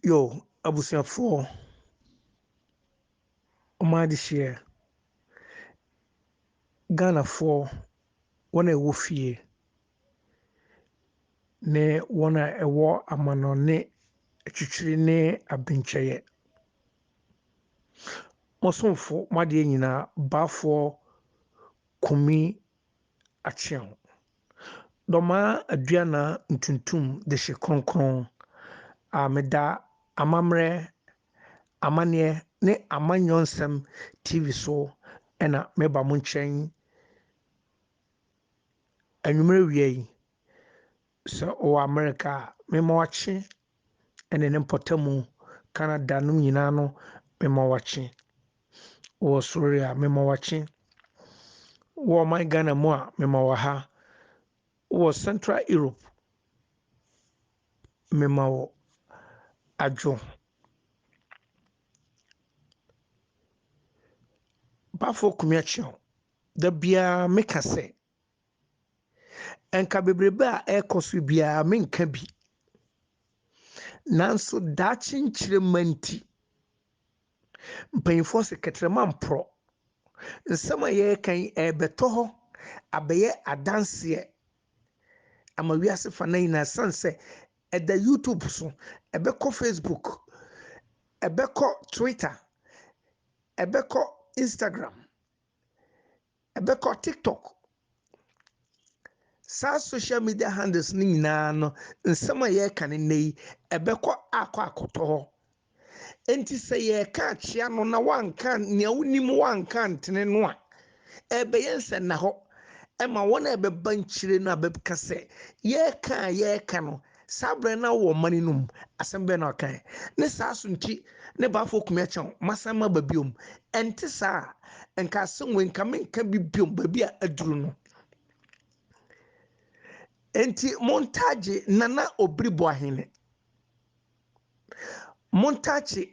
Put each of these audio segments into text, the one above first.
Yo, abusuafoɔ, ɔmaa adehyeɛ, Ghanafoɔ, wɔn a ɛwɔ fie ne wɔn a ɛwɔ amanɔne atwitwiri ne abenkyɛeɛ. Mo somfo, mo adeɛ nyinaa, Baafoɔ Kumi Acheaw. Dɔmaa aduanan ntuntum dehye kronkron a meda amammerɛ, amanneɛ ne amanyɔnsɛm TV so na meba mo nkyɛn yi anwummerɛ wia yi. Sɛ ɔwɔ Amerika a, memma wakye ɛne ne mpɔtamu ka na da nom nyinaa no mema wakye wɔ Soeri a mema wakye wɔ ɔman Ghana mu a mema wɔ ha wɔ Central Europe mema wɔ adwo Bafo Kumiakyɛw da biara meka sɛ Anka bebrebe a ɛrekɔ so biara menka bi. Nanso daakye nkyerɛ mma nti, mpanyinfoɔ se kɛtrɛma mporɔ. Nsɛm a yɛreka yi ɛrebɛtɔ hɔ abɛyɛ adanseɛ ama wiase fa na nyinaa sane sɛ ɛda YouTube so, ɛbɛkɔ Facebook, ɛbɛkɔ Twitter, ɛbɛkɔ Instagram. Ɛbɛkɔ TikTok. Saa social media handles no nyinaa no, nsɛm a yɛreka no nnɛ yi, ɛbɛkɔ akɔ akɔtɔ hɔ. Enti sɛ yɛreka akyea no na wanka nea wonim wanka antene no a, ɛbɛyɛ nsɛnnahɔ ma wɔn a ɛbɛba nkyire no a bɛbɛka sɛ, yɛreka a yɛreka no, Saa berɛ no na wowɔ mane no mu. Asɛm bɛn na ɔkae? Ne saa so nti ne ba afɔ kumi akyɛ wo, masan maba biom. Ɛnte saa a, nka asɛm wei, nka menka bi biom, baabi a aduru no. Enti montagye Nana Obiri Boahene. Montagye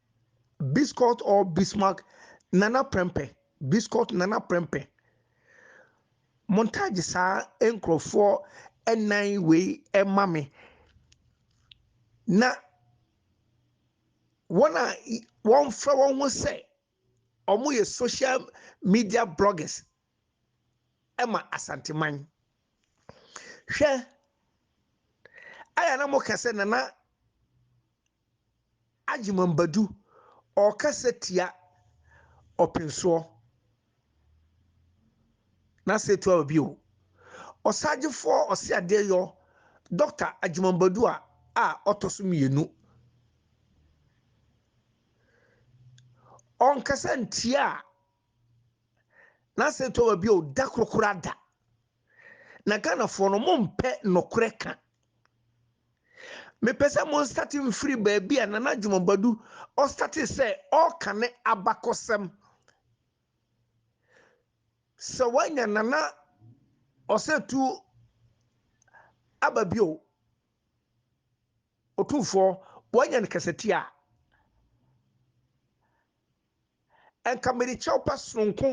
Biscot or Bismarck Nana Prempeh Biscot Nana Prempeh Montage Saa nkurɔfoɔ nnan wei ma me na wɔn a wɔmfrɛ wɔn ho sɛ wɔyɛ social media bloggers ma Asanteman. Hwɛ, ayɛ na moka sɛ Nana Agyemang Badu, ɔrekasa tia ɔpensoɔ. N'ase retu aba bio. Ɔsagyefoɔ Ɔseadeɛyɔ Dɔkta Agyemang Badu a a ɔtɔ so mmienu. Ɔnkasa ntia a, n'ase retu aba bio da koro koraa da. na ghanafoɔ no mo mpɛ nɔkorɛ ka mepɛ sɛ mo nstate mfiri baabi a nana dwomabadu ɔstate sɛ ɔka ne abakɔsɛm sɛ woanya nana ɔsɛ tu aba bio ɔtumfoɔ woanya no kasatia a Nka mede kyɛwpa soronko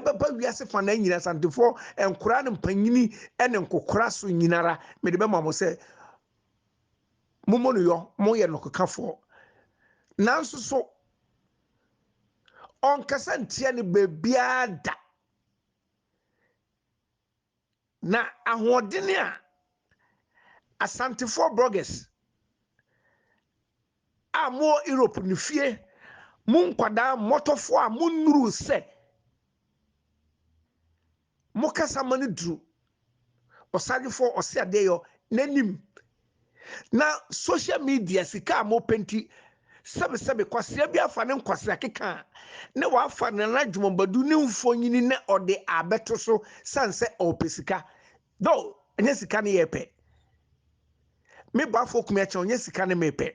bɛba wiase fanaa nyina, Asantefoɔ, nkoraa ne mpanyini ne nkokora so nyinara, mede bɛma mo sɛ mommɔ no yɔ, moyɛ nɔkekafoɔ. Nanso so ɔnkasa ntia no baabiara da. Na ahoɔdene a Asantefoɔ bloggers a mowɔ Europe no fie mo nkwadaa mmɔtɔfoɔ a monnuruu sɛ mokasa ma no duru Ɔsadwefoɔ Ɔseadeɛyɔ n'anim Na social media sika a mopɛ nti, sɛbesɛbe kwasea bi afa ne nkwasea keka a, na wafa Nana Adwumabadu ne mfonini na ɔde abɛto so sane sɛ ɔrepɛ sika. Though, ɛnyɛ sika ne yɛrepɛ. Me Boafo Okumeakyɛw, ɛnyɛ sika ne merepɛ.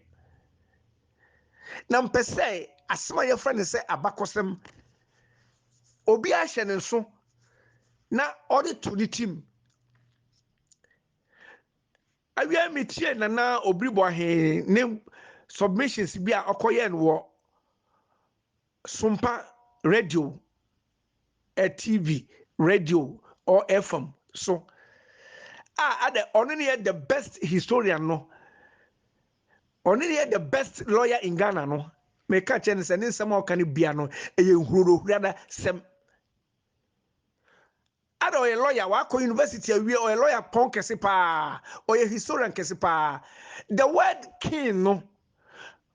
Na mpɛ sɛ asɛm a yɛfrɛ no sɛ abakɔsɛm, obiara hyɛ ne nso na ɔde to ne tim. Awiei mitiee Nana Obiri Boahene ne submissions bi a ɔkɔyɛɛ no wɔ Sumpa Radio, eh, TV, radio or FM so a adɛ ɔno ne yɛ the best historian no, ɔno ne yɛ the best lawyer in Ghana no. Meka kyerɛ no sɛ ne nsɛm a ɔka no bia no ɛyɛ nhurodohurada sɛm. Ada ɔyɛ lɔya wakɔ university awie ɔyɛ lɔya pɔn kɛse paa ɔyɛ historian kɛse paa the word king no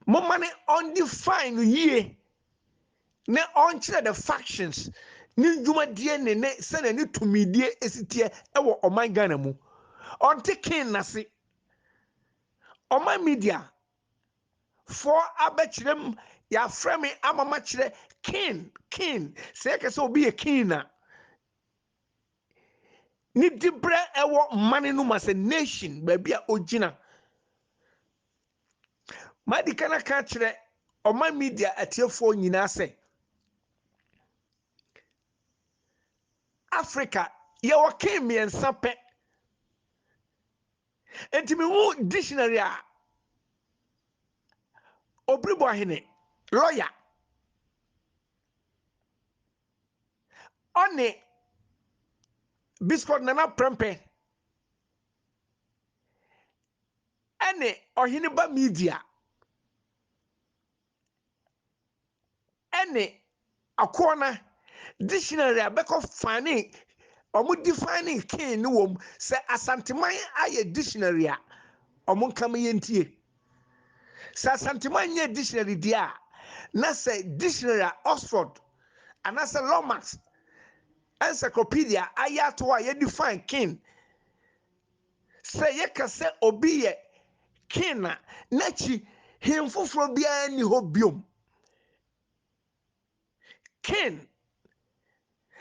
moma ne undefine no yie ne ɔnkyerɛ the factions ne ndwumadie ne ne sɛnea ne tumidie esiteɛ ɛwɔ ɔman Ghana mu ɔnte king nase ɔman media foɔ abɛkyerɛ mu yɛafrɛ me ama makyerɛ king king sɛ yɛka sɛ obi yɛ king na ne diberɛ ɛwɔ mmane no mu asɛ nation baabi a ogyina madi ka no aka akyerɛ ɔman media atiefoɔ nyinaa sɛ africa yɛwɔ king mmiɛnsa pɛ Enti mehu dictionary a Obiribɔ hene, lawyer, ɔne Biskɔt Nana Prɛmpɛ ɛne Ɔheneba Media ɛne akoɔ no dictionary a bɛkɔ fane ɔmo define king no wɔ mu sɛ asanteman ayɛ dictionary a ɔmo nka ma yɛn tie sɛ asanteman nyɛ dictionary deɛ a na sɛ dictionary a oxford anaasɛ lomax encyclopedia ayɛ ato hɔ a yɛ define king Sɛ yɛka sɛ obi yɛ King a, n'akyi hene foforɔ biara nni hɔ biom. King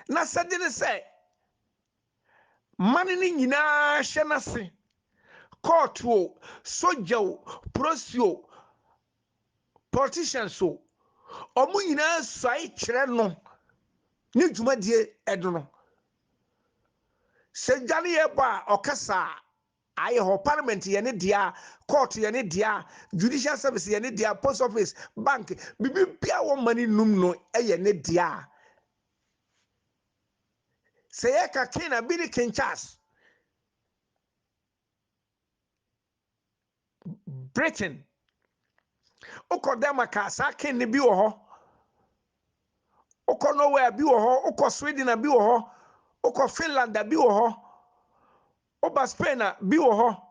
n'asɛde ne sɛ mane no nyinaa hyɛ n'ase, court o, sogya o, prosi o, politicians o, wɔn nyinaa suae kyerɛ no ne dwumadie no. Sɛ gya ne yɛ bɔ a ɔka saa a yɛ hɔ, parliament yɛ ne dea, court yɛ ne dea, judicial service yɛ ne dea, post office, bank, biribiara wɔ mma ne num no yɛ ne dea. Sɛ yɛka king a bi ne king Charles. Britain. Wokɔ Denmark a, saa ken no bi wɔ hɔ. Wokɔ Norway a, bi wɔ hɔ. Wokɔ Sweden a, bi wɔ hɔ. Wokɔ Finland a, bi wɔ hɔ. Woba Spain a, bi wɔ hɔ.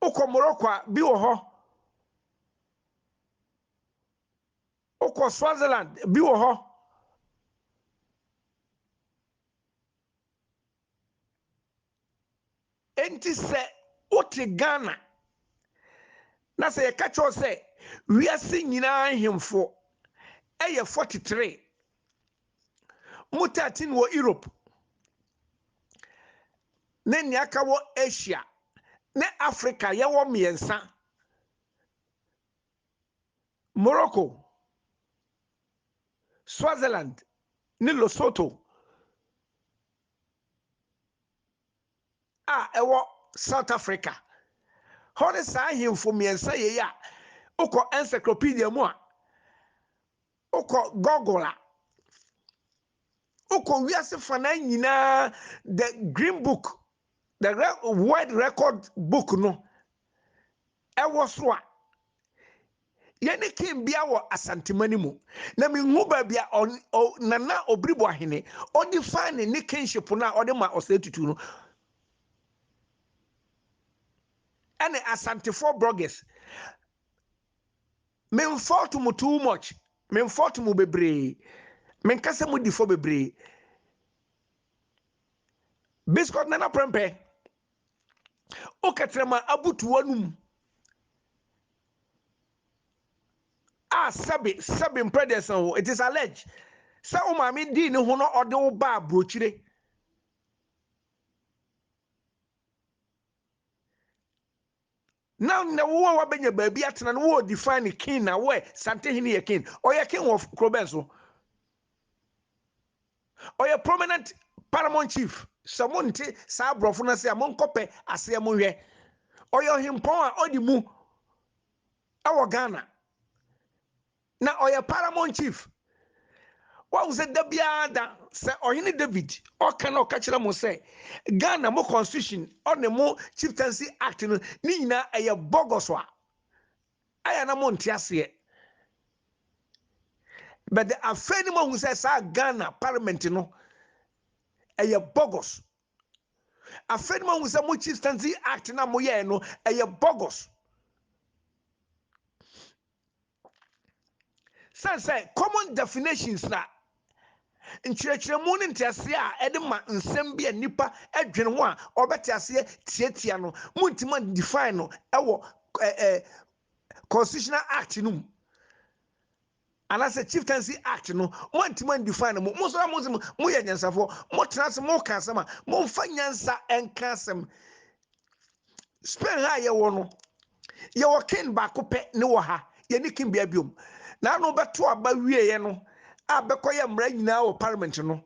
Wokɔ Morocco a, bi wɔ hɔ. Wokɔ Swaziland, bi wɔ hɔ. Enti sɛ wote Ghana na sɛ yɛka kyerɛ wo sɛ wiase nyinaa nhemfo yɛ 43, mu 13 wɔ Europe ne nea aka wɔ Asia ne Africa, yɛwɔ mmiɛnsa, Morocco, Swaziland ne Lesotho. a ɛwɔ South Africa hɔ ne saa ahemfo mmiɛnsa yei a wokɔ encyclopedia mu a wokɔ Google a wokɔ wiase fanaa nyinaa the green book the world record book no Ɛwɔ so a, yɛne King Bia wɔ Asantema no mu, na menhu baabi a ɔn, ɔ, Nana Obiribo Ahene, ɔdefine ne kingship no a ɔde ma Osei Tutu no, ɛne Asantefoɔ bloggers. Menfault mo too much, menfault mo bebree, menka sɛ modi fɔ bebree. Biscuit Nana Prempeh, wokɛtrɛ ma abutu w'anom a sɛbe sɛbe mpɛ deɛ san hɔ it is alleged sɛ wo maame dii ne ho na ɔde wo baa burokyire Now nnɛ wo a wabɛnya baabi atena no wo define king na wo ɛ sante hene yɛ king ɔyɛ king wɔ kuro bɛn so ɔyɛ prominent paramount chief sɛ mo nte saa aborɔfo no ase a monkɔpɛ aseɛ mo nhwɛ ɔyɛ ɔhempɔn a ɔde mu ɛwɔ Ghana Na ɔyɛ Paramount Chief. Woahu sɛ da biara da, sɛ Ɔhene David ɔka na ɔka kyerɛ mo sɛ Ghana mo constitution ɔne mo Chieftaincy Act no ne nyinaa ɛyɛ bɔgɔso a, ayɛ a na monte aseɛ. But afei ne moahu sɛ saa Ghana Parliament no ɛyɛ bɔgɔs. Afei ne moahu sɛ mo Chieftaincy Act no a moyɛɛ no ɛyɛ bɔgɔs. Sɛ sɛ common definitions na nkyerɛkyerɛmu ne nteaseɛ a ɛde ma nsɛm bi a nnipa dwene ho a ɔbɛte aseɛ tiatia no, montumi define no wɔ ɛ ɛ constitutional act no mu anaasɛ chieftaincy act no moantumi define no mo mo nso a mo nso moyɛ nyansafoɔ motena ase moka asɛm a momfa nyansa nka asɛm spain ha a yɛwɔ no yɛwɔ king baako pɛ ne wɔ ha yɛne king bia biom na ano bɛto aba wieɛ no a bɛkɔyɛ mmara nyinaa wɔ parliament no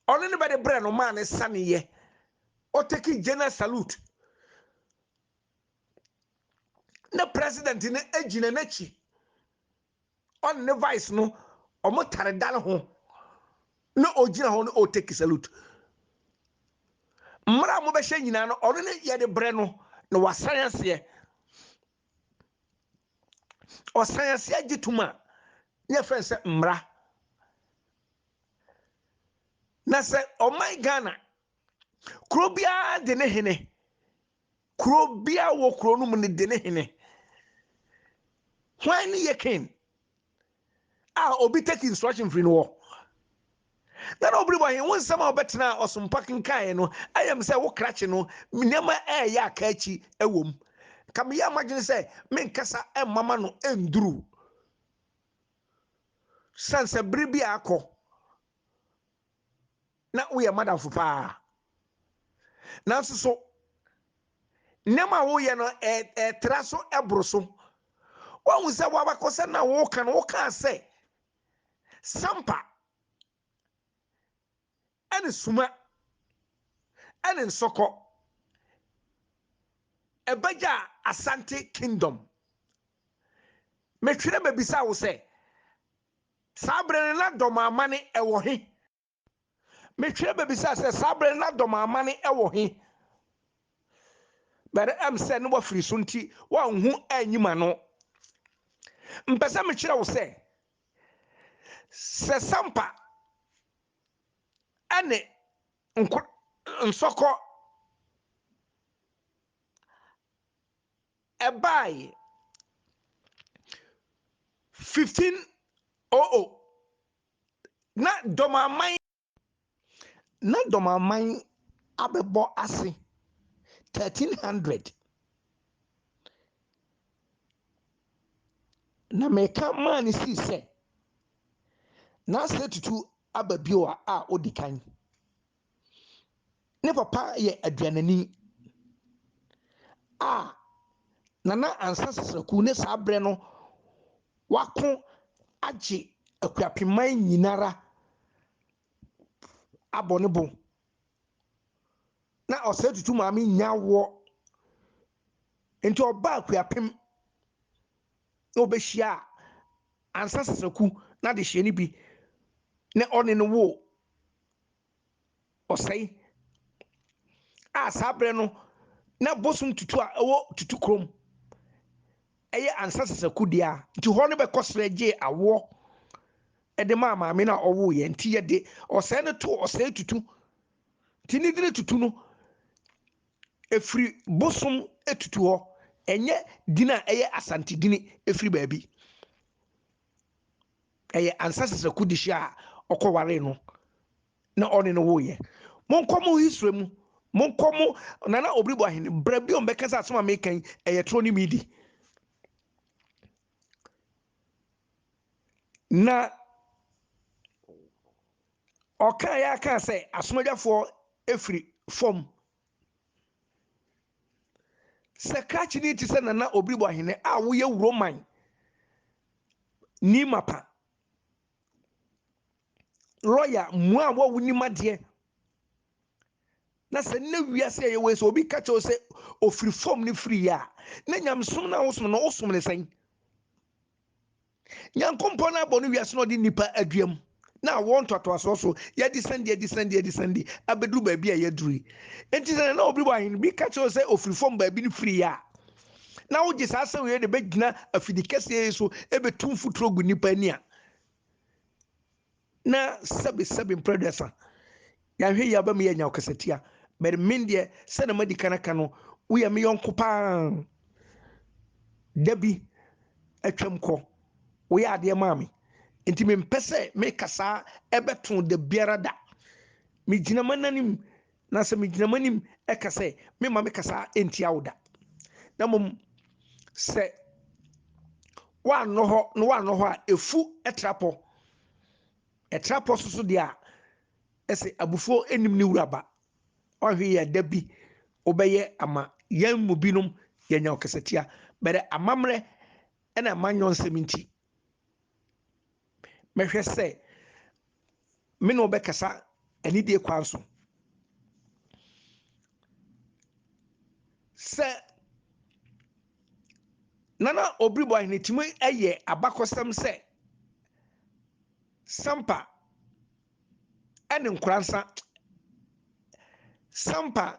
ɔno ne bɛde brɛ no maa ne saneyɛ ɔtaki general salute ne president no agyina n'akyi ɔne ne vice no ɔmo tare dan ho na ɔgyina hɔ no ɔteki salute mmara a mobɛhyɛ nyinaa no ɔno ne yɛde brɛ no na wasan aseɛ ɔsan aseɛ gye tom a ne yɛfrɛ no sɛ mmara na sɛ ɔman ghana kuro biara de ne hene Kuro biara wɔ kuro no mu no de ne hene. Hwan ne yɛ king a obi take instruction firi no hɔ? na na ɔbere bɔ he wo nsɛm a wobɛtena a ɔsompa kenkaeɛ no ayɛ m sɛ wo krakye no nneɛma ɛɛyɛ aka akyi wɔ m ka meyɛ a madwene sɛ menkasa mmama no nduru sane sɛ bere bi a akɔ na woyɛ madamfo paa nanso so nneɛma a woyɛ no ɛtra so ɛboro so woahu sɛ woabakɔsɛ na woka no wokaa sɛ sampa ɛne suma ɛne nsɔkɔ ɛbɛgya asante kingdom metwerɛ mabisa wo sɛ Saa bere no na dɔm amane ɛwɔ he? Metwerɛ bɛbisaa sɛ saa bere no na dɔm amane ɛwɔ he? But ɛm sɛ ne wafiri so nti wanhu anyi m'ano. Mpɛ sɛ mekyerɛ wo sɛ, sɛ sampa ɛne nko nsɔkɔ Ɛbae, 1500, na Dɔmaman. Na Dɔmaman abɛbɔ ase, 1300. Na meka maa no sii sɛ, na Asetutu aba bio a a odi kan. Ne papa yɛ aduanani a Nana Ansa Sesaku ne saa berɛ no wako agye Akuapeman nyinara abɔ ne bo. Na Ɔsɛe Tutu maame nnya awoɔ nti ɔbaa Akuapem na ɔbɛhyiaa Ansa Sesaku n'adehyeɛ no bi na ɔne no woo ɔsɛe a saa berɛ no na bosom tutu a ɛwɔ tutu kurom ɛyɛ ansa sasaku deɛ a nti hɔ no bɛkɔ serɛ gyee awoɔ ɛde maa maame no a ɔwoo yɛ nti yɛde ɔsɛe no to ɔsɛe tutu nti ne dini tutu no ɛfiri bosom tutu hɔ ɛnyɛ dini a ɛyɛ asante dini ɛfiri baabi ɛyɛ ansa sɛ sɛ kudi hyia a ɔkɔ waree no na ɔne no woyɛ monkɔ mo history mu monkɔ mo nana obiri bɔ ahene brɛ bi ɔmbɛka sɛ asɛm a meka yi ɛyɛ toro ne midi na ɔka yɛ aka sɛ asomadwafoɔ ɛfiri fam Sɛ krakye no te sɛ Nana Obiribo Ahene a woyɛ Wuroman ni mapa, lɔya mmoa a wonim adeɛ, na sɛ nnɛ wiase a yɛwɔ yi sɛ obi ka kyerɛ wo sɛ ofiri fam no firi yɛ a, na nyamesom no a wosom no wosom no sɛn? Nyankopɔn na abɔ no wiase na ɔde nnipa adua mu na awoɔ ntoatoasoɔ so yɛde sɛnde adi sɛnde adi sɛnde abɛduru baabi a yɛaduru yi. Enti sɛ na obi wɔ ahene bi ka kyerɛ wo sɛ ɔfiri fam baabi no firi yɛ a, na wogye saa asɛm wei de bɛgyina afidikɛseɛ yi so ɛbɛtu mfuturo gu nnipa ani a, Na sɛbi sɛbi mprɛ aduasa yɛanhwɛ yie aba mu yɛanya ɔkasatia but me deɛ sɛdeɛ madi kan aka no woyɛ me yɔnko paa da bi atwam kɔ woyɛ adeɛ maa me nti mempɛ sɛ meka saa ɛbɛto da biara da megyina m'ananim Na sɛ megyina mo anim ka sɛ, Meremma me kasa ntia wo da, na mmom sɛ woannɔ hɔ na woannɔ hɔ a, efu tra pɔ. Ɛtra pɔ so so deɛ a, ɛsɛ abufuo nnim ne wura ba. Ɔhwe yɛ da bi wobɛyɛ ama yɛn mu binom yɛanya ɔkasatia, bɛdɛ amammerɛ ɛna manyɔ nsɛm nti. mɛhwɛ sɛ me ne wo bɛkasa anidie kwan so sɛ nana obiribɔ ahenetumi yɛ abakɔsɛm sɛ sampa ɛne nkoransa sampa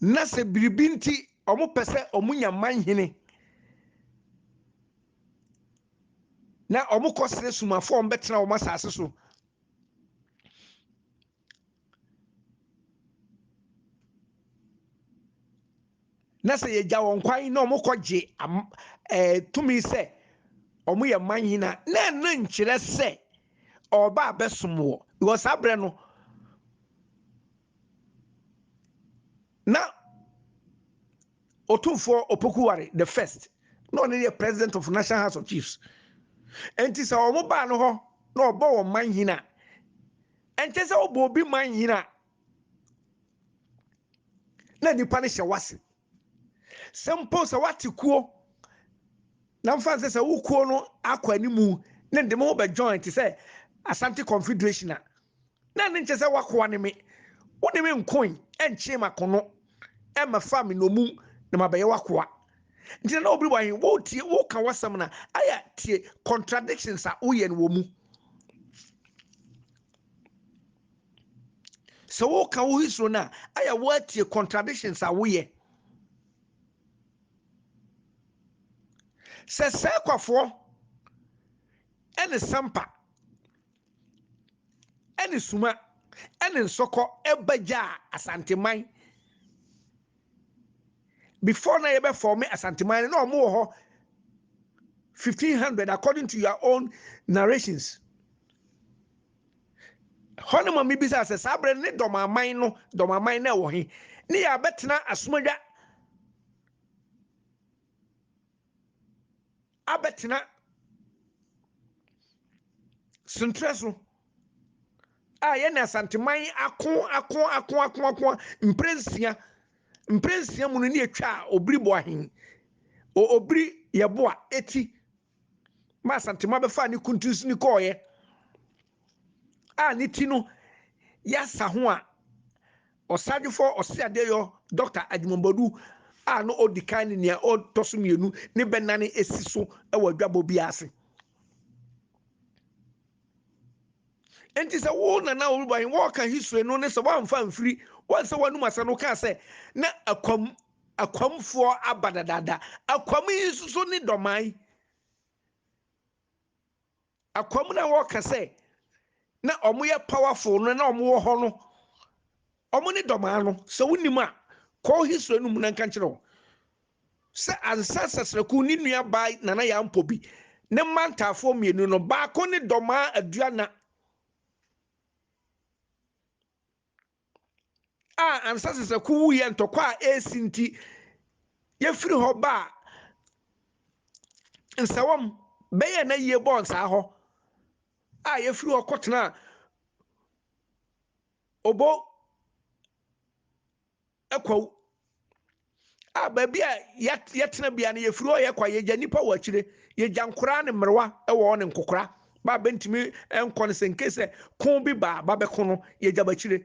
Na sɛ biribi nti wɔpɛ sɛ wɔnya manhene na wɔkɔ srɛ sumafo a wɔbɛtena wɔn asase so. Na sɛ yɛgya wɔn kwan na wɔkɔgye tumi sɛ wɔyɛ manhene a, na ɛno nkyerɛ sɛ ɔreba abɛsom wɔ. Because saa berɛ no, na Otumfoɔ Opokuware the first na ɔno yɛ president of National House of Chiefs. Nti sɛ wɔn baa no hɔ na ɔbɔ wɔn manhene a, ɛnkyɛ sɛ ɔbɔ obi manhene a na nipa no hyɛ wase sɛ mpo sɛ wate kuo na mfa nsɛ sɛ wo kuo no akɔ animu ne de mo ho bɛ join te sɛ asante confederation a na ne nkyɛ sɛ wakoa ne me wo ne me nkoe ɛnkyee makono ɛmɛfa me nomum na mabɛyɛ wakoa nti na obi wahe wotie woka wasɛm na ayɛ tie contradictions a woyɛ no wɔ mu sɛ woka wo history no a ayɛ woatie contradictions a woyɛ sɛ sɛkwafoɔ ɛne sampa ɛne suma ɛne nsɔkɔ ɛbɛgyaa asanteman before na yɛbɛfɔme asanteman no na ɔmo wɔ hɔ 1500 according to your own narrations Ɛhɔ na ma mibisa sɛ saa bere no ne dɔm aman no dɔm aman no ɛwɔ he ne yɛ abɛtena asomadwa abɛtena sentrɛ so a yɛne asanteman ako ako ako ako ako mprɛ nsia mprɛ nsia mu no ne yɛtwa obiri boa he obiri yɛboa eti ma Asantema bɛfaa ne kuntunsini kɔɔeɛ a ne ti no yɛasa ho a Ɔsadwofoɔ Ɔseadeɛyɔ Dɔkta Agyemɔbɔdu a na ɔdi kan ne nea ɔtɔ so mmienu ne bɛnane asi so wɔ adwabɔ bi ase. Enti sɛ wo nana Olubahin wɔɔka history no ne sɛ wɔamfa amfiri wɔn sɛ wɔanum asa no kaa sɛ na akwam Akwamfoɔ aba dadaada. Akwam yi nso so ne dɔman. Akwam na wɔka sɛ na wɔn yɛ powerful no na wɔn wɔ hɔ no. Wɔn ne dɔman no. Sɛ wonim a, kɔ history no mu na nka nkyerɛ wo. Sɛ Ansa Sasraku ne nua baa Nana Yaa Mpobi ne mma ntaafoɔ mmienu no, baako ne dɔmaa Aduana. a ansa Sesako wuiɛ ntɔkwa a ɛresi nti yɛfiri hɔ baa Nsawam bɛyɛɛ na yie bɔɔ nsaa hɔ a yɛfiri hɔ kɔtenaa Obo Akwawu a baabi a yɛtena bia no yɛfiri hɔ yɛkɔ a yɛgya nnipa wɔ akyire yɛgya nkoraa ne mmerewa wɔ hɔ ne nkokora ba a bɛntumi nkɔ no sɛ nke sɛ ko bi baa ba bɛko no yɛgya bɛkyire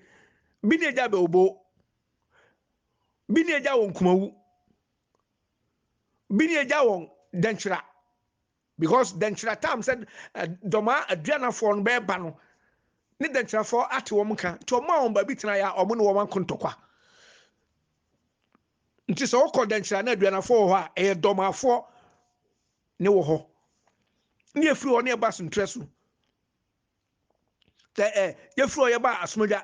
bi ne agya bɛobo bi ne agya wɔn kumawu bi ne agya wɔn dɛnkyera Because dɛnkyira time sɛ dɔmaa aduanafoɔ no bɛɛba no ne dɛnkyirafoɔ ate wɔn nka nti wɔn a wɔn baabi tena yɛ a wɔn ne wɔn ako ntɔkwa nti sɛ wɔkɔ dɛnkyira na aduanafoɔ wɔ hɔ a ɛyɛ dɔmaafoɔ ne wɔ hɔ ne yɛfiri hɔ ne yɛba asentrɛ so sɛ ɛ yɛfiri hɔ yɛba asomdwa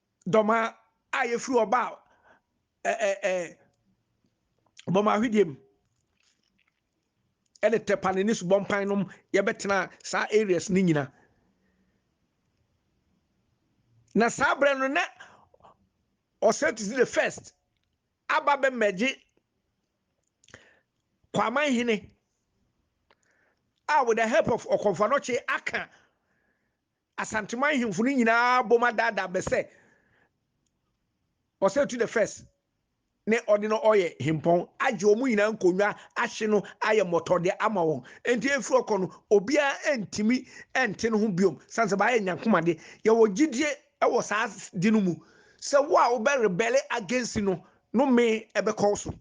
Dɔma a yɛfiri ɔba a bɔma ahwedeɛ mu ɛne tɛpane ne subɔmpan nom yɛbɛtena saa areas no nyina na saa berɛ no na ɔsɛtisi the first aba bɛmɛgye kwaman hene a with the help of ɔkɔmfanɔkye aka Asanteman hemfo no nyinaa bom adaadaa bɛ sɛ Ɔsatu the First ne ɔde no ɔyɛ hempɔn, agye wɔn nyinaa nkonnwa, ahye no, ayɛ mmɔtɔdeɛ ama wɔn. Enti ɛfiri ɔkɔ no, obiara antumi ante no ho biom, sane sɛ bɛayɛ nyankomade. Yɛwɔ gyedie wɔ saa de no mu sɛ wo a wobɛ rebɛle against no no mee ɛbɛkɔ wo so.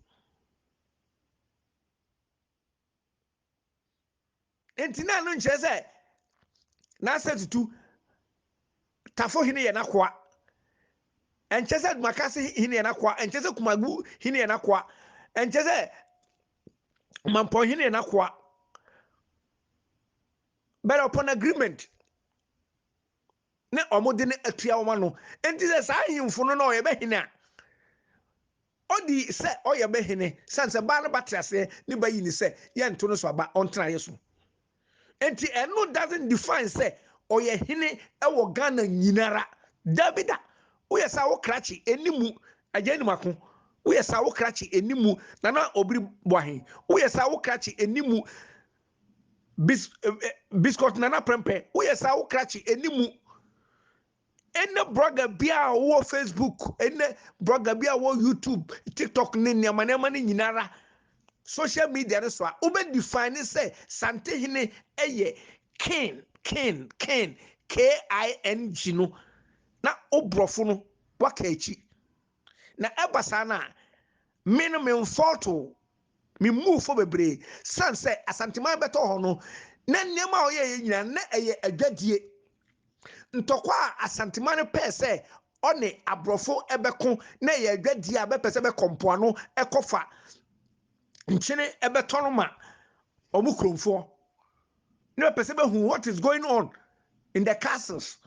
nti na ɛno nkyerɛ sɛ n'asɛ tutu tafo hene yɛ n'akoa ɛnkyɛ sɛ dumakase hene yɛ n'akoa ɛnkyɛ sɛ kumagu hene yɛ n'akoa ɛnkyɛ sɛ mampɔn hene yɛ n'akoa but upon agreement ne wɔde no atua wɔn ano. Enti sɛ saa ahemfo no na ɔyɛ bɛ hene a, ɔdi sɛ ɔyɛ bɛ hene, sane sɛ baa no ba te aseɛ ne ba yi ne sɛ yɛnto no so aba, ɔntena yɛ so. Enti ɛno doesn't define sɛ ɔyɛ hene wɔ Ghana nyinara. Daabi da, woyɛ saa wo krakye ɛni mu, agya anim ako, woyɛ saa wo krakye ɛni mu, Nana Obiri Boahen, woyɛ saa wo krakye ɛni mu, Bis eh, eh, Biscuit Nana Prɛmpɛ, woyɛ saa wo krakye ɛni mu. Ɛnɛ blogger bi a wɔ Facebook, ɛnɛ blogger bi a wɔ YouTube, TikTok ne nneɛma nneɛma no nyinara social media no so a wobɛ define ne sɛ Santehene ɛyɛ king king king K-I-N-G no na wobrɔfo no waka akyi. Na ɛba saa no a, me no me mfɔɔto o, me mmuu fɔ bebree, sane sɛ Asanteman bɛtɔ hɔ no, na nneɛma a ɔyɛeɛ nyinaa na ɛyɛ adwadie. Ntɔkwa a Asanteman no pɛɛ sɛ ɔne aborɔfo bɛko na ɛyɛ adwadie a bɛpɛ sɛ bɛkɔ mpoano kɔfa nkyene bɛtɔ no ma wɔn kuromfoɔ na bɛpɛ sɛ bɛhu what is going on in the castles.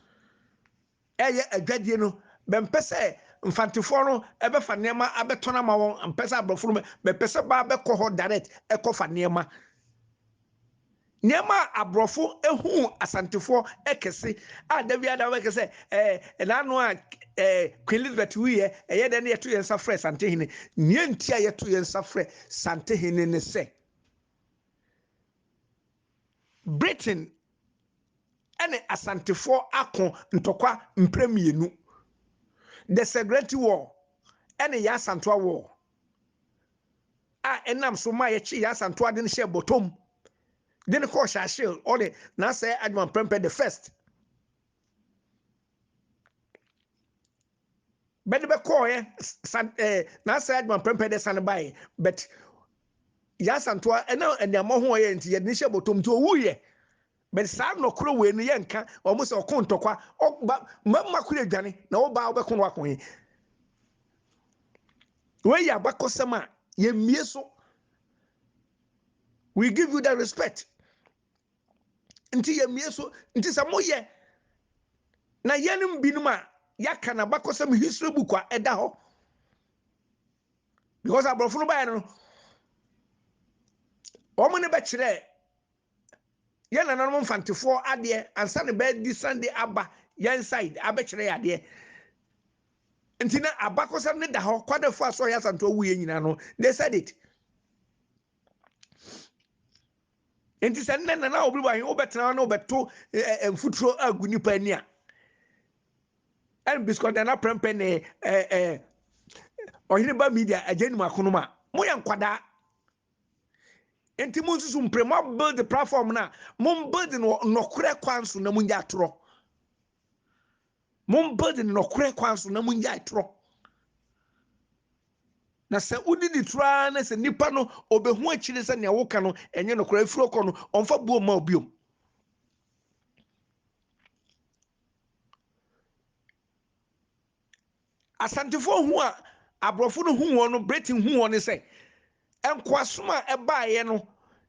reyɛ adwadie no, bɛmpɛ sɛ Mfantefoɔ no bɛfa nneɛma abɛtɔn ama wɔn, mpɛ sɛ Aborɔfo no bɛpɛ sɛ baa bɛkɔ hɔ direct kɔfa nneɛma. Nneɛma a Aborɔfo hu Asantefoɔ kɛse a da biara da wɔbɛka sɛ ɛɛ ɛna ano a ɛɛ Queen Elizabeth wuiɛ ɛyɛ dɛn na yɛto yɛn nsa frɛ Santehene. Nea nti a yɛto yɛn nsa frɛ Santehene ne sɛ, Britain ne Asantefoɔ ako ntɔkwa mprɛ mmienu, The Serengeti War ne Yaa Asantewaa War, a ɛnam so maa yɛkyee Yaa Asantewaa de no hyɛɛ bɔtɔm de no kɔɔ Churchill ɔde n'asɛe Adjumapɛmpɛ the First. bɛde bɛkɔɔɛ san ɛɛ n'asɛe adwuma mprɛmpɛ de san baeɛ but yasantoa ɛna nneɛma ho ɔyɛ nti yɛde ne hyɛ bɔtɔm nti ɔwuiɛ but saa nnɔkorɔ wei no yɛnka wɔn sɛ ɔko ntɔkwa ɔba mmarima koro adwane na ɔbaa ɔbɛko no ako he wei yɛ abakɔsɛm a yɛmmie so we give you the respect nti yɛmmue so nti sɛ moyɛ na yɛnom binom a yɛaka no abakɔsɛm history book a ɛda hɔ because aborɔfo no baeɛ no wɔn ne bɛkyerɛ yɛn nananom mfantefoɔ adeɛ ansa ne bɛdi sande aba yɛn side abɛkyerɛ yɛ adeɛ nti na abakɔsɛm no da hɔ kwadafo a sɛ ɔyɛ asantoɔ wuyɛ nyinaa no they said it Enti sɛ nnɛ Nana Awobere ba he, wobɛtena hɔ na wobɛto mfuturo agu nipa ani a, ɛne Bisikɔ Nana Prɛmpɛ ne Ɔhene Ba Media agya nim akonom a, moyɛ nkwadaa. Enti monsusu mpere, moabuild platform no a, mombuild no wɔ nɔkorɛ kwan so na monyɛ atorɔ. Mommpa di no nɔkorɛ kwan so na monnyae torɔ. Na sɛ wodidi torɔ ara na sɛ nipa no ɔbɛhu akyire sɛ nea woka no ɛnyɛ nɔkorɛ, ɛfiri ɔkɔ no, ɔmfa buo mma wo biom. Asantefoɔ hu a aborɔfo no hu wɔn no, Britain hu wɔn ne sɛ, Nkoasom a ɛbaeɛ no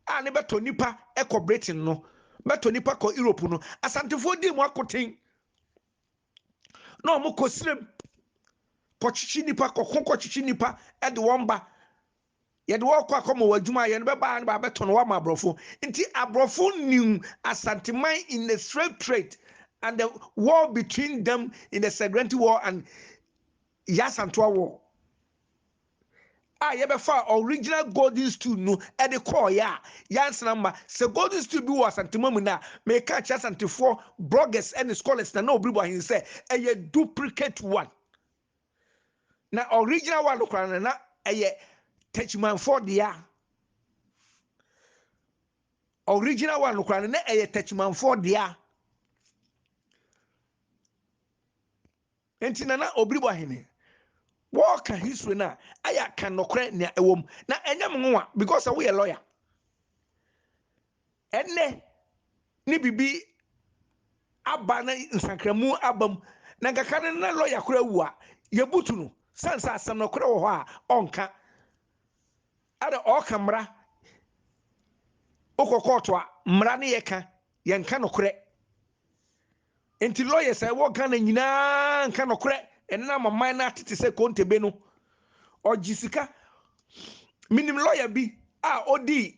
a ne bɛtɔ nnipa kɔ Britain no, bɛtɔ nnipa kɔ Europe no, Asantefoɔ dii mu akoten na wɔn kɔ srem kɔtwetwe nnipa, kɔko kɔtwetwe nnipa de wɔn ba. Yɛde wɔn kɔ akɔma wɔn adwuma ayɛ no, bɛbaa no bɛabɛtɔ no wɔama aborɔfo. Nti aborɔfo nim Asanteman in the slave trade and the war between them in the Segrenty war and Yasantoa war. a yɛbɛfaa original golden stool no de kɔɔeɛ a, yɛansana mma. Sɛ golden stool bi wɔ Asantema mu nnɛ a, meka akyerɛ Asantefoɔ bloggers ne scholars na na wɔbiribu ahene sɛ ɛyɛ duplicate one. Na original one no koraa no na ɛyɛ Techimanfoɔ dea. Original one no koraa no na ɛyɛ Techimanfoɔ dea. Enti Nana Obiri Boahene, wɔɔka history no a, ayɛ a ka nɔkorɛ nea ɛwɔ mu. Na ɛnyɛ me nwanwa because sɛ woyɛ lawyer, ɛnnɛ ne biribi aba na nsankramu aba mu, na nka ka no na lawyer koraa awu a, yɛbutu no sane sɛ asɛm nɔkorɛ wɔ hɔ a ɔnka. Ada ɔɔka mmra wokɔ kɔɔto a mmra ne yɛ ka yɛ nka nokorɛ nti lawyers a ɛwɔ Ghana nyinaa nka nokorɛ ɛnna ama man no atete sɛ kontebe no ɔgye sika menim lawyer bi a ɔdii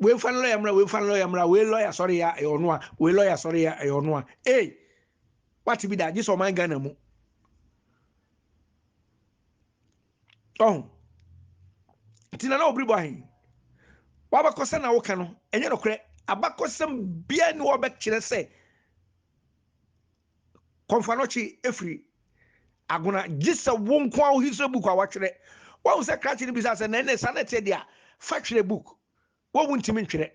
wei nfa ne lɔya mmra wei nfa ne lɔya mmra wei lɔya sɔre yɛ a ɛyɛ ɔno a wei lɔya sɔre yɛ a ɛyɛ ɔno a ee wate bi da gye sɛ ɔman ghana mu ɔho nti na na ɔbiri bɔ ahen wabakɔsɛ na woka no ɛnyɛ nokorɛ abakɔsɛm bia ne wɔbɛkyerɛ sɛ Kɔmfoanɔkye afiri Agona gye sɛ wo nko ara wo history book a watwerɛ. Wahu sɛ krakye no bisaa sɛ na ɛnɛ saa na ɛteɛ deɛ a, fa twerɛ book. Wo wontumi ntwerɛ.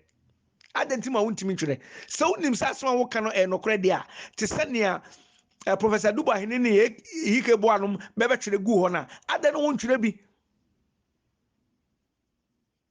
Adɛn nti ma wontumi ntwerɛ? Sɛ wonim sɛ asɛm a woka no ɛyɛ nokorɛ deɛ a, te sɛ nea eh, Professor Duba Hene ne Ike Boa nom bɛbɛtwerɛ gu hɔ no a, adɛn na wontwerɛ bi?